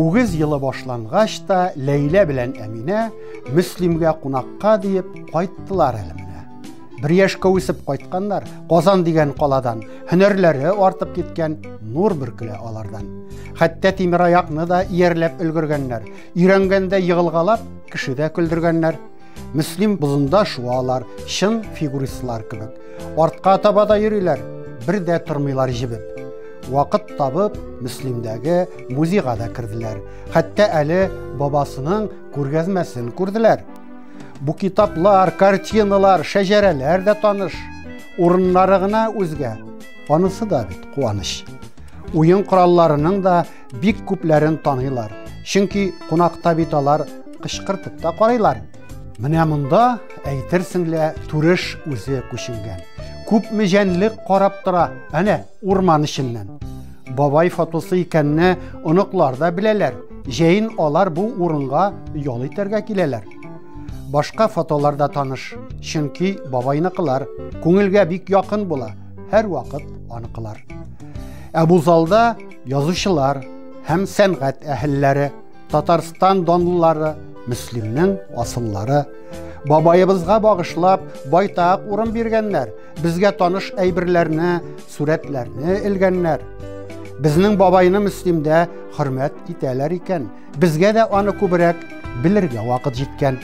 Үгез елы башлангач та Ләйлә белән Әминә Мөслимгә кунакка диеп кайттылар әле. Бер яшькә үсеп кайтканнар, Казан дигән каладан, һөнәрләре артып киткән нур бөркелә алардан. Хәтта тимер аякны да иярләп өлгергәннәр, өйрәнгәндә егылгалап, кешедә көлдергәннәр. Мөслим бозында шуалар, чын фигуристлар кебек. Артка таба да йөриләр, бер дә тормыйлар җибеп. Вакыт табып, Мөслимдәге музейга да керделәр. Хәтта әле бабасының күргәзмәсен күрделәр. Бу китаплар, картиналар, шәҗәрәләр дә таныш. Урыннары гына үзгә. Анысы да бит куаныч. Уен коралларының да бик күпләрен таныйлар. Чөнки кунакта бит алар кычкыртып та карыйлар. Менә монда әйтерсең лә түреш үзе күченгән. Күпме җәнлек карап тора. Әнә, Урман эченнән. Бабай фотосы икәнне оныклар да беләләр. Җәен алар бу урынга ял итәргә киләләр. Башка фотолар да таныш, чөнки бабайныкылар күңелгә бик якын була, һәрвакыт аныкылар. Ә бу залда язучылар һәм сәнгать әһелләре, Татарстан донлылары, Мөслимнең асыллары бабаебызга багышлап байтак урын биргәннәр Безгә таныш әйберләрне, сурәтләрне элгәннәр. Безнең бабайны Мөслимдә хөрмәт итәләр икән. Безгә дә аны күбрәк белергә вакыт җиткән.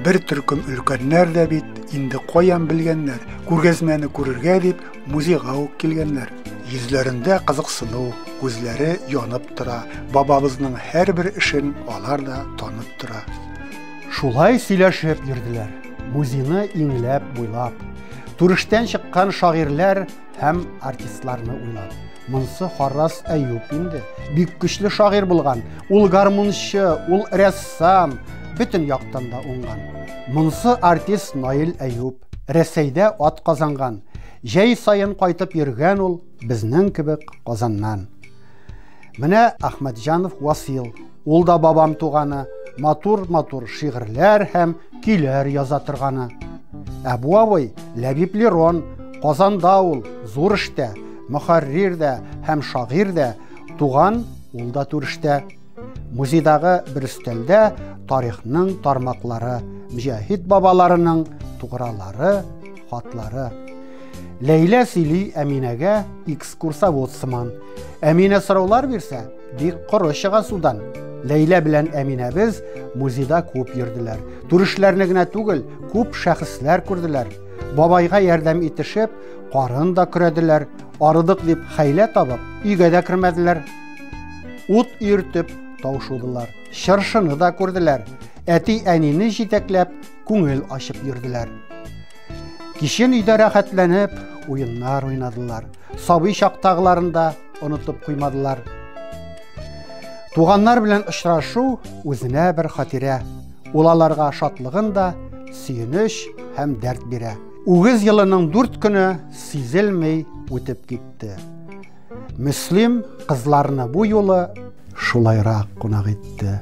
Бер төркем өлкәннәр дә бит инде каян белгәннәр. Күргәзмәне күрергә дип музейга ук килгәннәр. Йөзләрендә кызыксыну, күзләре янып тора. Бабабызның һәрбер эшен алар да танып тора. Шулай сөйләшеп йөрделәр, музейны иңләп, буйлап. Түрештән чыккан шагыйрьләр һәм артистларны уйлап. Монсы Харрас Әюп инде. Бик көчле шагыйрь булган. Ул гармунчы, ул рәссам, бөтен яктан да уңган. Монсы артист Наил Әюп. Рәсәйдә ат казанган. Җәй саен кайтып йөргән ул безнең кебек Казаннан. Менә Ахмәтҗанов Васил. Ул да бабам туганы, матур-матур шигырьләр һәм көйләр яза торганы. Ә бу абый Ләбиб Лерон, Казанда ул, зур эштә, мөхәррир дә һәм шагыйрь дә, туган ул да түрештә. Музейдагы бер өстәлдә тарихның тармаклары, мөҗәһид бабаларының тугралары, хатлары. Ләйлә сөйли Әминәгә экскурсовод сыман. Әминә сораулар бирсә, Бик коры чыга судан. Ләйлә белән Әминәбез музейда күп йөрделәр. Түрешләрне генә түгел, күп шәхесләр күрделәр. Бабайга ярдәм итешеп, карын да көрәделәр. Арыдык дип хәйлә табып, өйгә дә кермәделәр. Ут өертеп таушудылар. Чыршыны да күрделәр. Әти әнине җитәкләп, күңел ачып йөрделәр. Кичен өйдә рәхәтләнеп уеннар уйнадылар. Сабый чактагыларында онытып куймадылар. Туганнар белән очрашу үзенә бер хатирә. Ул аларга шатлыгын да, сөенеч һәм дәрт бирә. Үгез елының дүрт көне сизелмей үтеп китте. Мөслим кызларны бу юлы шулайрак кунак итте.